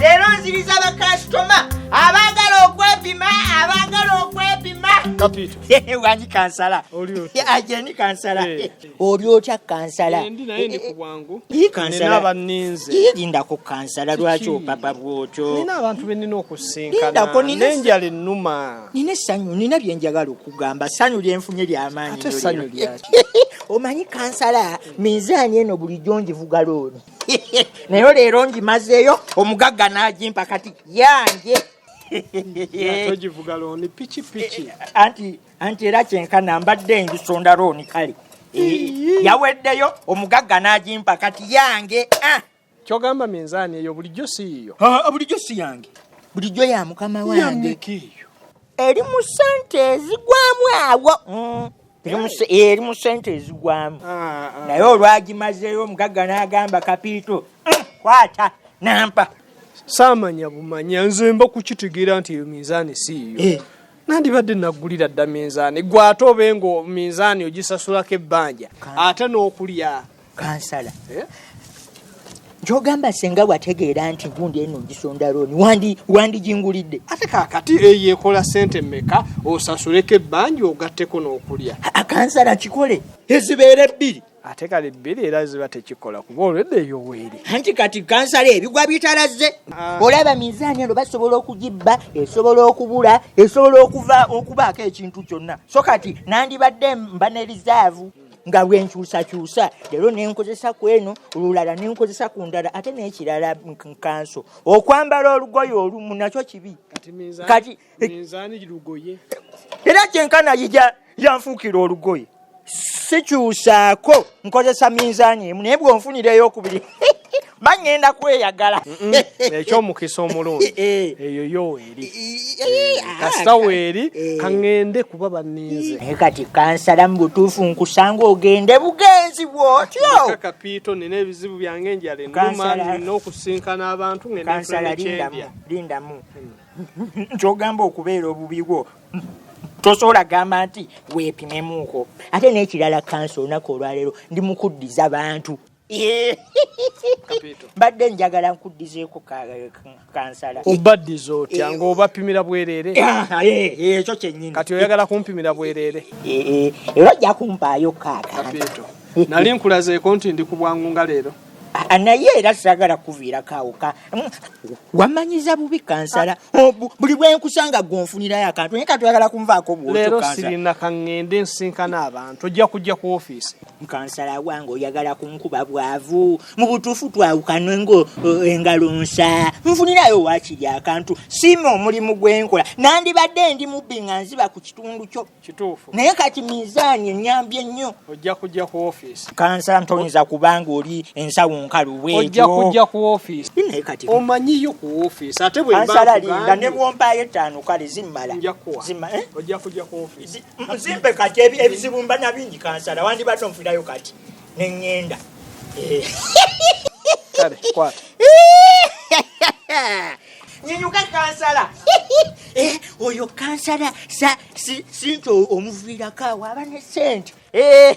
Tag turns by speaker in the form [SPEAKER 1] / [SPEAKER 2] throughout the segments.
[SPEAKER 1] leero nziriza bakasitoma abaagala okwepima abaagala okwepima kapito wani kansala ajeni
[SPEAKER 2] kansala eh. oli otya
[SPEAKER 1] kansala eh,
[SPEAKER 2] lindako eh, kansala
[SPEAKER 1] lwaki opapa bwotyoindakonenjala
[SPEAKER 2] enuma nina essanyu nina
[SPEAKER 1] byenjagala okugamba ssanyu lyenfunye lyamaanyi
[SPEAKER 2] omanyi
[SPEAKER 1] kansala minzaani eno bulijjo njivuga looni nayo leero ngimazeeyo omugagga n'agimpa kati yange
[SPEAKER 2] togivuga looni pikipiki eh, anti
[SPEAKER 1] anti era kyenkana mbadde ngisonda looni kale eh, yaweddeyo omugagga n'agimpa kati yange ah. kyogamba
[SPEAKER 2] minzaani eyo bulijjo si yiyo ah, bulijjo si yange
[SPEAKER 1] bulijjo ya mukama wange eri mu sente ezigwamu awo mm. eri mu sente ezigwamu ah, ah. naye olwagimazeeyo omugagga n'agamba kapiito eh, kwata nampa saamanya
[SPEAKER 2] bumanya nze mba kukitegeera nti eyo minzaani siiyo eh. nandibadde nagulira dda minzaani gwe ate obe nga minzaani ogisasulako ebbanja ate n'okulya kansala
[SPEAKER 1] eh? gyogamba senga wategeera nti gundi eno ngisonda looni wandi wandigingulidde ate kakati
[SPEAKER 2] eyo ekola sente meka osasuleko ebbanja ogatteko n'okulya akansala kikole
[SPEAKER 1] ezibeera ebbiri ate kali bbiri
[SPEAKER 2] era ziba tekikola kuba olwedde eyo weeri anti kati kansala
[SPEAKER 1] ebigwa bitalaze ah. olaba mizaani eno basobola okugibba esobola okubula esobola okuva okubaako ekintu kyonna so kati nandibadde mba ne rizaavu nga lwenkyusakyusa leero nenkozesa ku eno olulala nenkozesa ku ndala ate nekirala nkanso okwambala olugoye olumu nakyo kibi kati
[SPEAKER 2] era
[SPEAKER 1] kyenkana yija yanfuukira olugoye sikyusaako nkozesa minzaani emu naye bwonfunira eyokubiri bangenda kweyagala ekyomukisa
[SPEAKER 2] eh, eh, omulungi eh. eyo yo eri ah, kasita weeri kaŋŋende kuba baninze naye kati kansala
[SPEAKER 1] mu butuufu nkusanga ogende bugenzi bwotyo kapiito nina
[SPEAKER 2] ebizibu byange enjala enuma nina okusinkana abantu ngendamu
[SPEAKER 1] kyogamba okubeera obubi bwo tosobola gamba nti weepimemuuko ate n'ekirala kansa olunaku olwaleero ndi mukuddiza bantu mbadde njagala nkuddizeeko kansala obaddiza otya
[SPEAKER 2] eh, ngaobapimira bwereere ah, ah, eh, eh, ekyo
[SPEAKER 1] kyenyini kati oyagala kumpimira
[SPEAKER 2] bwereere era ojja
[SPEAKER 1] kumpaayo kaaka
[SPEAKER 2] nali nkulazeeko nti ndi ku bwangu nga leero ah, naye era
[SPEAKER 1] sagala kuviirako awoka mm, wamanyiza bubi kansala oh, buli bwenkusanga gonfunirayo akantu naye katwagala kunvaako bwoleero sirina
[SPEAKER 2] kaŋŋende nsinkana abantu ojja kujja ku ofiisi kansala wange
[SPEAKER 1] oyagala kunkuba bwavu mu butuufu twawukanwe ngo eh, engalo nsa nfunirayo waakiri akantu siima omulimu gwenkola nandibadde ndi mubbi nga nziba ku kitundu kyo kituufu naye kati
[SPEAKER 2] mizaani
[SPEAKER 1] enyambye ennyo ojja kujja ku
[SPEAKER 2] ofiisi kansala ntoyinza
[SPEAKER 1] kubanga oli ensawo nkalu bwojja kujja
[SPEAKER 2] ku ofiisi naye kati omanyiyo ku ofiisi ate bwekansala linda ne
[SPEAKER 1] bwompaayo ettaano kale zimmala zimmala eh? ojja
[SPEAKER 2] kujja ku ofiisi nzimpe kati
[SPEAKER 1] ebizibu mba nabingi kansala wandibadde onfirayo kati neŋŋenda
[SPEAKER 2] eh. kale kwata
[SPEAKER 1] nyinyuka kansala eh, oyo kansala sinti omuviirako awo aba ne sente eh,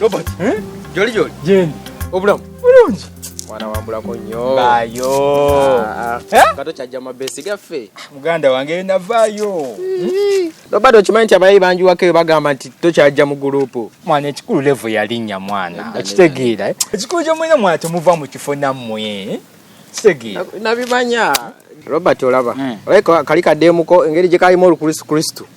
[SPEAKER 3] Robert. Eh? Jolly jolly. Jane.
[SPEAKER 2] Obulamu. Bulungi. Mwana wambulako
[SPEAKER 3] nnyo. Bayo. Ah,
[SPEAKER 2] ah. Eh? Kato
[SPEAKER 3] kyajja mabesi gaffe. Muganda wange
[SPEAKER 2] navaayo. Robert
[SPEAKER 3] okimanyi nti abayi bangi wakeyo bagamba nti tokyajja mu gulupu. Mwana ekikulu levo
[SPEAKER 2] yalinnya mwana. Okitegeera. Eh? Ekikulu kyomwena mwana temuva mu kifo nammwe. Kitegeera. Nabimanya.
[SPEAKER 3] Robert olaba. Hmm. Olabika kali kaddeemuko engeri gye kalimu olukristu.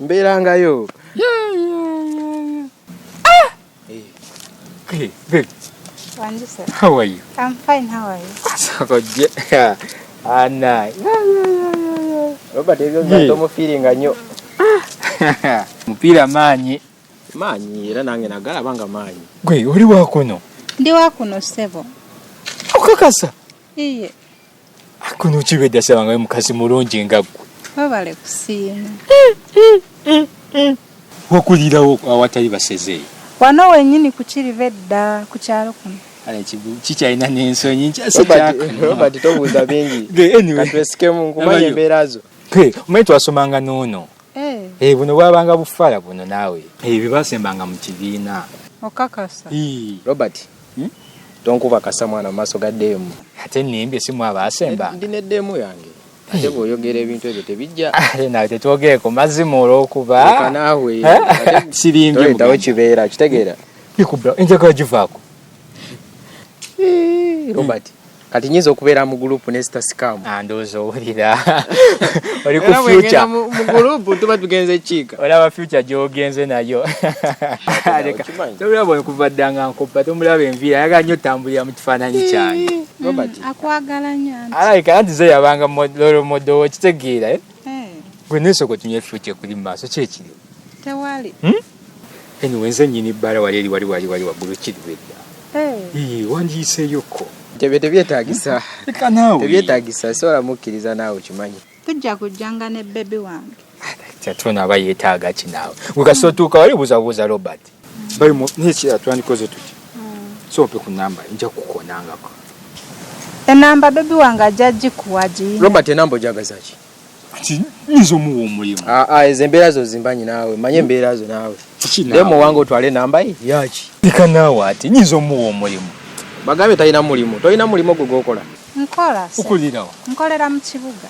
[SPEAKER 4] mbeerangayo
[SPEAKER 3] omufiiringa nyo mupiira
[SPEAKER 5] maanyi maanyi era
[SPEAKER 3] nange nagalaba nga maanyi gwe oli wakuno
[SPEAKER 5] ndi wakuno
[SPEAKER 4] ssebo okakasa
[SPEAKER 5] iye
[SPEAKER 4] akuno
[SPEAKER 5] kibedda sabangayo mukazi mulungi nga ggwe webale kusiima wakulirawo awatali basezeeyo wano wenyini
[SPEAKER 4] kukiriva edda ku kyalo kuno kikyalina
[SPEAKER 5] nensonyi nkyasirobert tobuuza
[SPEAKER 3] bingi katwesikemu
[SPEAKER 5] nkumanya
[SPEAKER 3] embeera zo omanyi twasomanga
[SPEAKER 5] noono eh. Eh, buno bwabanga bufala buno naawe eh, bye basembanga mu kibiina okakasa
[SPEAKER 4] robert
[SPEAKER 3] Tonkuba kasa mwana mumaso ga demu. Ate nimbye simu
[SPEAKER 5] aba asemba. Ndi ne demu yange.
[SPEAKER 3] Ate bwoyogera ebintu ebyo tebijja. Ate nawe tetwogeeko
[SPEAKER 5] mazimu olwokuba. Leka naawe. Eh?
[SPEAKER 3] Sirimbye.
[SPEAKER 5] Toyitawo kibeera kitegeera.
[SPEAKER 3] Bikubba enjagala
[SPEAKER 5] givaako. Eh,
[SPEAKER 3] Robert. kati nyinza okubeera mu group ne sita sikamu ah, ndowooza owulira
[SPEAKER 5] oli ku future mu group
[SPEAKER 3] tuba tugenze kiika olaba future gy'ogenze
[SPEAKER 5] nayo tolaba okuva dda nga nkoppa tomulaba enviira ayaga nnyo tambulira mu kifaananyi kyange mm, akwagala
[SPEAKER 3] nyo
[SPEAKER 4] alabika anti ze yabanga
[SPEAKER 5] lolo modo wo kitegeera eh? eh. gwe nesoko tunye future kuli mu maaso kyekiri tewali
[SPEAKER 4] hmm?
[SPEAKER 5] Anyway, nze nyini bbala wali eri wali wali wali waggulu kiddwedda ee wandiyiseeyokko tebye tebyetagisa
[SPEAKER 3] leka naawe
[SPEAKER 5] tebyetagisa sobola
[SPEAKER 3] mukkiriza naawe okimanyi tujja kujjanga
[SPEAKER 4] ne bebi wange kyatona aba
[SPEAKER 5] yeetaaga ki naawe wekasi otuuka wali buuzabuuza robert bali mu naye kira twandikoze tuti so ompe ku namba nja kukonangako
[SPEAKER 4] enamba bebi wange ajja gikuwa giyi robert enamba ojagazaki
[SPEAKER 3] nyinza
[SPEAKER 5] omuwa omulimu ah, ah, ezo embeera zo
[SPEAKER 3] zimbanyi naawe manye embeera zo naawe naye muwanga otwale nambaye yaki ika naawe ati
[SPEAKER 5] nyinza omuwa omulimu bagambe talina
[SPEAKER 3] mulimu tolina mulimu ogwo gwokola nkola
[SPEAKER 4] okulirawo
[SPEAKER 5] nkolera mu kibuga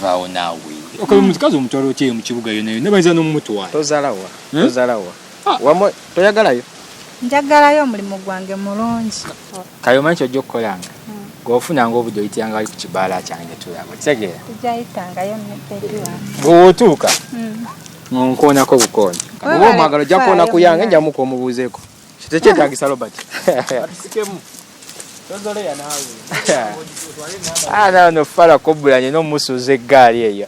[SPEAKER 4] vaawo naawe
[SPEAKER 5] okola omukazi omutwalo kyeyo mu kibuga yonayona bayinza nomumutwala tozalawa hmm?
[SPEAKER 3] tozalawa Ah, wamwe toyagalayo njagalayo
[SPEAKER 4] omulimu gwange mulungi kale omanyi kyojja
[SPEAKER 5] okukolanga hmm. gweofunanga obudde oyitanga ali ku kibaala kyange tulaba okitegeera
[SPEAKER 4] bwewotuuka
[SPEAKER 5] hmm. nonkoonako bukooni oba omwagala ojja
[SPEAKER 3] kukoona ku yange njamu kwomubuuzeeko tekyetagisa robert ah, nano fala kobulanye
[SPEAKER 5] nomusuuza eggaali eyo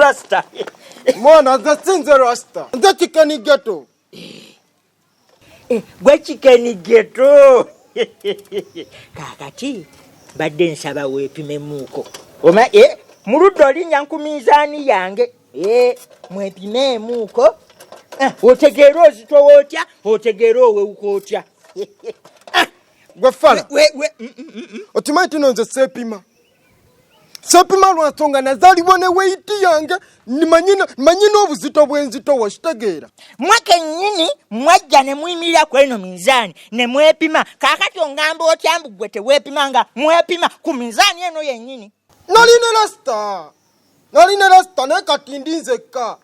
[SPEAKER 1] rasta
[SPEAKER 6] mwana nze sinze rasta nze kikeni geto eh,
[SPEAKER 1] gwe kikeni geto kakati mbadde nsaba weepimemuuko oma e eh, mu ludda olinnya nku minzaani yange e eh, mwepimeemuuko eh, otegeera ozitowa otya otegeera owewuka otya
[SPEAKER 6] gwe fala okimanyi tuno nze seepima sepima lwansonga nazalibwa ne weyiti yange manyi n'obuzito bwenzito wakitegeera mwe kenyini
[SPEAKER 1] mwajja ne muyimirira ku eno minzaani ne mwepima kakati ongamba otya mbu gwe tewepima nga mwepima ku minzaani eno yenyini nali ne lasita
[SPEAKER 6] nali ne lasita naye kati ndi nzekka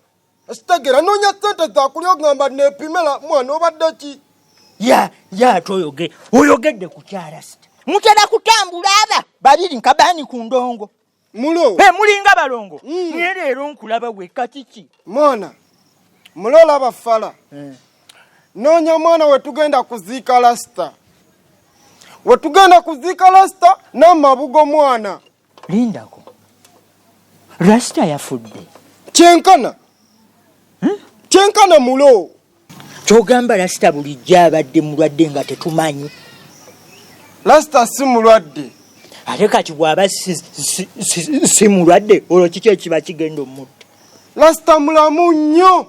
[SPEAKER 6] sitegera nonya sente zakuli ogamba nepimela mwana obadde ki ya ya ate oyoge
[SPEAKER 1] oyogedde ku kyarasita mutera kutambula aba babiri nkabani ku ndongo mulo hey,
[SPEAKER 6] mulinga balongo
[SPEAKER 1] mm. naye leero nkulaba weka kiki mwana
[SPEAKER 6] mulo olaba fala mm. nonya mwana wetugenda kuziika lasita wetugenda kuziika lasita namabugo mwana lindako
[SPEAKER 1] rasita yafudde kyenkana
[SPEAKER 6] hmm? kyenkana mulo kyogamba
[SPEAKER 1] rasita bulijjo abadde mulwadde nga tetumanyi
[SPEAKER 6] rasita si mulwadde ate kati
[SPEAKER 1] bwaba si mulwadde olwo kiki ekiba kigenda omutta rasita
[SPEAKER 6] mulamu nnyo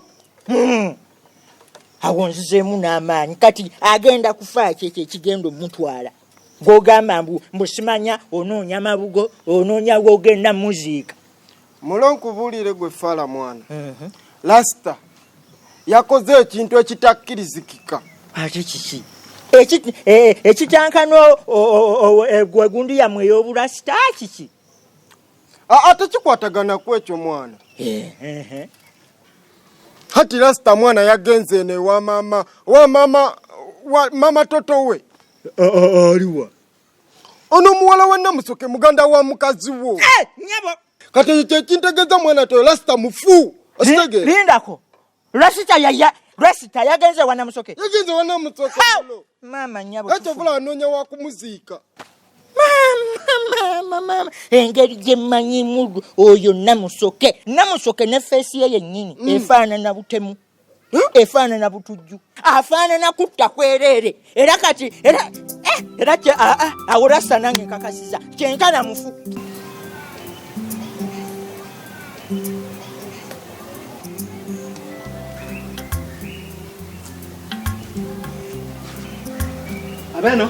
[SPEAKER 6] hmm.
[SPEAKER 1] awonzizeemu n'amaanyi kati agenda kufaaki ekyo ekigenda omutwala gwogamba mbu mbusimanya onoonya mabugo onoonya gwogenda muziika mulo
[SPEAKER 6] nkubuulire gwe fala mwana mhm. lasita
[SPEAKER 1] yakoze
[SPEAKER 6] ekintu ekitakkirizikika
[SPEAKER 1] ate
[SPEAKER 6] kiki
[SPEAKER 1] ekitankana e, egundu yamwe ey'obulasita kiki
[SPEAKER 6] ate kikwatagana ku ekyo mwana hati lasita mwana yagenze eno ewa maama wa maama mama toto we aliwa ono muwala wa namusoke muganda wa mukazi wo eh, nyabo
[SPEAKER 1] kati ekyo
[SPEAKER 6] kyekintegeza mwana toyo lasita mufu okitegere lindako
[SPEAKER 1] lasita yaya lasita yagenze wa namusoke yagenze wa namusoke mama nyabo ekyo vula anonya wa
[SPEAKER 6] kumuziika
[SPEAKER 1] engeri gyemanyimu oyo namusoke namusoke ne feesi ye yennyini mm. efaanana butemu Hmm? efaanana butujju afaanana kutta kwereere era kati era eh, era ah, ah, awo rasta nange nkakasiza kyenkana mufu
[SPEAKER 6] abeno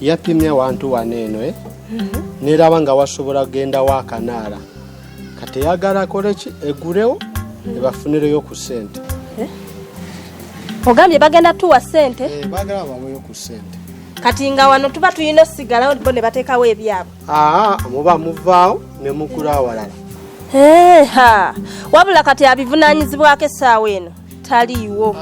[SPEAKER 6] yapimye wantu wano eno eh? mhm. neraba nga wasobola kugenda wakanaala kati eyagala akoleki egulewo mhm. ebafunireyo ku sente eh?
[SPEAKER 7] ogambye bagenda tuwa sente eh, bagala baweyo ku
[SPEAKER 6] sente kati nga wano
[SPEAKER 7] tuba tulina osigalawo bo ne bateekawo ebyabwe aa muba
[SPEAKER 6] muvaawo ne mukula awalala eha
[SPEAKER 7] wabula kati abivunanyizibwako essaawa eno taliiwo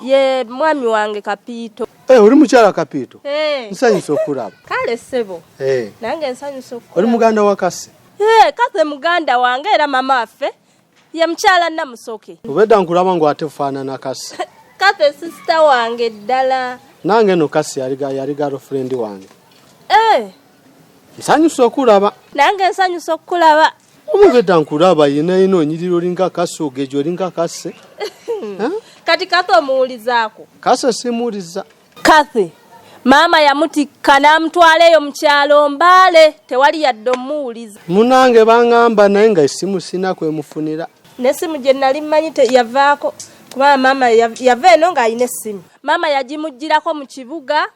[SPEAKER 6] Ye
[SPEAKER 7] mwami wange Kapiito. Hey, eh, oli mukyala
[SPEAKER 6] Kapiito? Hey. Eh. Nsanyusa okulaba. Kale ssebo.
[SPEAKER 7] Hey. Eh. Nange nsanyusa okulaba. Oli muganda wa Kase?
[SPEAKER 6] Hey, Kase muganda
[SPEAKER 7] wange era mama waffe ye mukyala Namusoke. Obedda nkulaba ngu
[SPEAKER 6] ate faanana Kase. Kase sisita
[SPEAKER 7] wange ddala. Nange no Kase
[SPEAKER 6] yali yali girlfriend wange. Hey. Nsanyusa okulaba. Nange nsanyusa
[SPEAKER 7] okulaba. omubedda nkulaba
[SPEAKER 6] yenayena onyirira olinga akase ogeja olinga akase
[SPEAKER 7] kati kathy omuwulizaako kase simuwuliza
[SPEAKER 6] kathy
[SPEAKER 7] maama yamutikka n'amutwala eyo mu kyalo mbaale tewali yadde omuwuliza munange bangamba
[SPEAKER 6] naye nga essimu sina kwemufunira n'essimu gye nali
[SPEAKER 7] mmanyi yavaako kubanga maama yava eno ng'alina essimu maama yagimuggyirako mu kibuga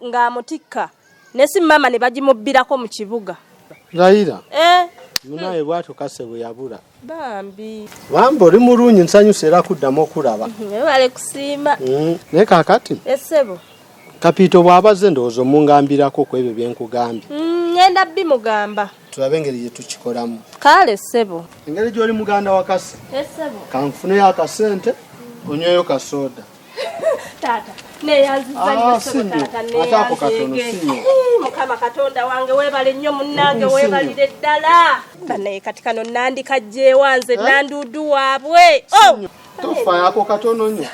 [SPEAKER 7] ng'amutikka nga ne si maama ne bagimubbirako mu kibuga layira
[SPEAKER 6] eh. munaye bwatyo kase bwe yabula bambi
[SPEAKER 7] bambi oli
[SPEAKER 6] mulungi nsanyusa era kuddamu okulaba webale kusiima
[SPEAKER 7] mm. naye kakati
[SPEAKER 6] esebo
[SPEAKER 7] kapiito
[SPEAKER 6] bw'abaze ndowooza omungambirako ku ebyo bye nkugambye ngenda mm,
[SPEAKER 7] bimugamba tulabe engeri gye
[SPEAKER 6] tukikolamu kale ssebo
[SPEAKER 7] engeri gy'oli muganda
[SPEAKER 6] wa kasi eh, kanfuneyo akasente onyweyo kasooda
[SPEAKER 7] taata mukama katonda wange webale nnyo munnange webalire ddala banaye kati kano nandika jewa nze eh? nanduudu waabwe oh! tofayako
[SPEAKER 6] katono nyo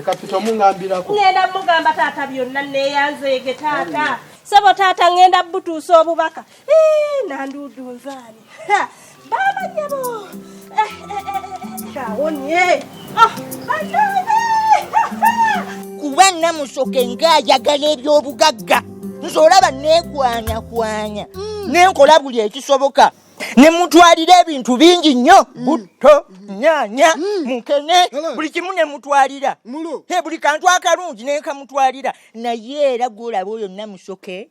[SPEAKER 6] kapita omungambirako ngenda mugamba
[SPEAKER 7] taata byonna neyanzeege taata sebo taata ngenda butuusa obubaka nandudu nzani baba nyabo kawonye
[SPEAKER 1] kuba namusoke ngaayagala ebyobugagga nze olaba nekwanyakwanya mm. nenkola buli ekisoboka ne mutwalira ebintu bingi nnyo mm. butto nyanya mm. mukene buli kimu ne mutwalira buli kantu akalungi nenkamutwalira naye era gwolaba oyo namusoke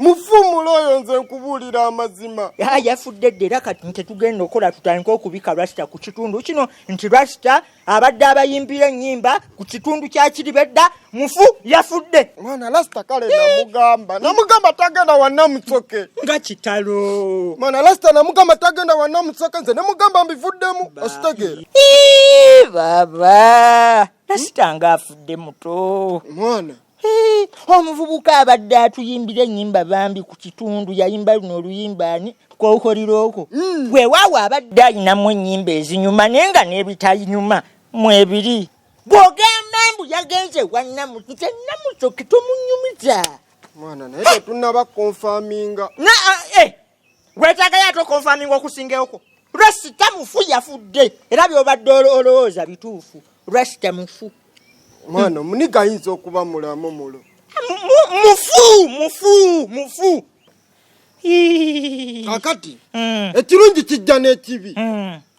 [SPEAKER 1] mufumula
[SPEAKER 6] oyo nze nkubuulira amazima yafudde dda era
[SPEAKER 1] kati nti tugenda okola tutandika okubika rasita ku kitundu kino nti rasita abadde abayimbira ennyimba ku kitundu kyakiribedda mufu yafudde mwana rasita kale
[SPEAKER 6] namugamba namugamba tagenda wanamusoke nga kitalo
[SPEAKER 1] mwana rasita namugamba
[SPEAKER 6] tagenda wanamusoke nze nemugamba mbivuddemu ositegeera baba
[SPEAKER 1] rasita nga afudde muto mwana
[SPEAKER 6] omuvubuka
[SPEAKER 1] abadde atuyimbira enyimba bambi ku kitundu yayimba luno oluyimba ani kokoliroko mm. wewawo abadde ayinamu enyimba ezinyuma naye nga nebitayinyuma mwebiri bwogamba mbu yagenze wanamu nze namusoke tomunyumiza mwana naye
[SPEAKER 3] tetunaba konfaminga na eh,
[SPEAKER 1] gwetagayo ate okonfaminga okusingewoko rasita mufu yafudde era byobadde olowooza bituufu rasita mufu mwana
[SPEAKER 3] muniga ayinza okuba mulamu mulo mufu mufu
[SPEAKER 1] mufu
[SPEAKER 3] kakati hmm. ekirungi kijja n'ekibi hmm.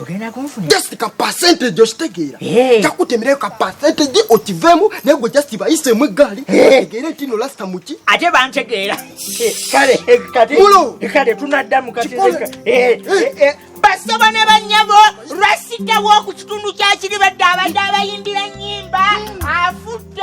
[SPEAKER 3] ogenda kunfunira
[SPEAKER 1] just ka percentage
[SPEAKER 3] okitegeera kakutemerayo ka percentage okiveemu naye gwe just bayiseemu eggaali tegeere nti no lasita muki ate bantegeera
[SPEAKER 1] kale kati kale tunaddamu kati basaba ne banyabo lwasita w'oku kitundu kya kiribadde abadde abayimbira nnyimba afudde